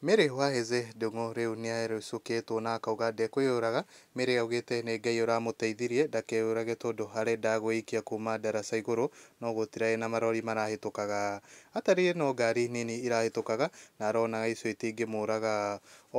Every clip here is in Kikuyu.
Mary Waheze, Ndung'u rĩu nĩarũcũkĩtwo na akauga ndekwĩyũraga, Mary augĩte nĩ Ngai ũramũteithirie ndakeyũrage tondũ arenda gwĩikia kuma ndaraca igũrũ no gũtirarĩ na marori marahĩtũkaga. Atarire no ngari nini irahĩtũkaga na aronaga icio itingĩmũraga.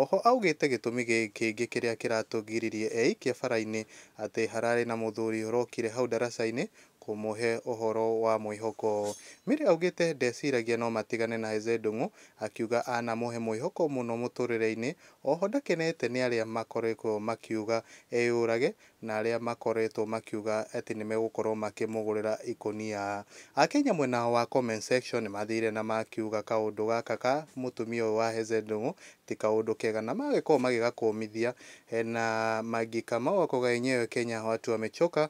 Oho augĩte gĩtũmi kĩngĩ kĩrĩa kĩratũgiririe eikia barainĩ atĩ hararĩ na mũthuri ũrokire hau ndaracainĩ kũmũhe ũhoro wa mwĩhoko. Mary augĩte ndeciragia no matigane na Eze Ndung'u akiuga anamũhe mwĩhoko mũno mũtũrĩre-inĩ oho ndakenete nĩ arĩa makoretwo makiuga eyũrage na arĩa makoretwo makiuga atĩ nĩmegũkorwo makĩmũgũrĩra ikũnia. Akenya mwena wa comment section nĩmathire na makiuga kaũndũ gaka ka mũtumia ũyũ wa Eze Ndung'u ti kaũndũ kega na magĩkorwo magĩgakũmithia na Maggie Kamau akoga enyewe Kenya watu wamechoka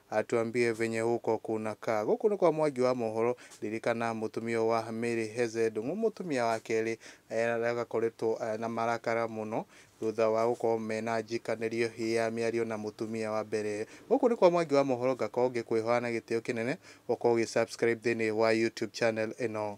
Atuambie venye huko kunakaa. Gũkũ nĩ kwa Mwangi wa mohoro. Ririkana mũtumia wa Mary Heze Ndung'u, mũtumia wa kerĩ, agakoretwo na marakara mũno thutha wa gũkorwo mena njikanĩrio ya mĩario na mũtumia wa mbere. Gũkũ nĩ kwa Mwangi wa mohoro ngakorwo ngĩkwĩhoya na gĩtĩo kĩnene ũkorwo ũgĩ subscribe thĩinĩ wa YouTube channel ĩno.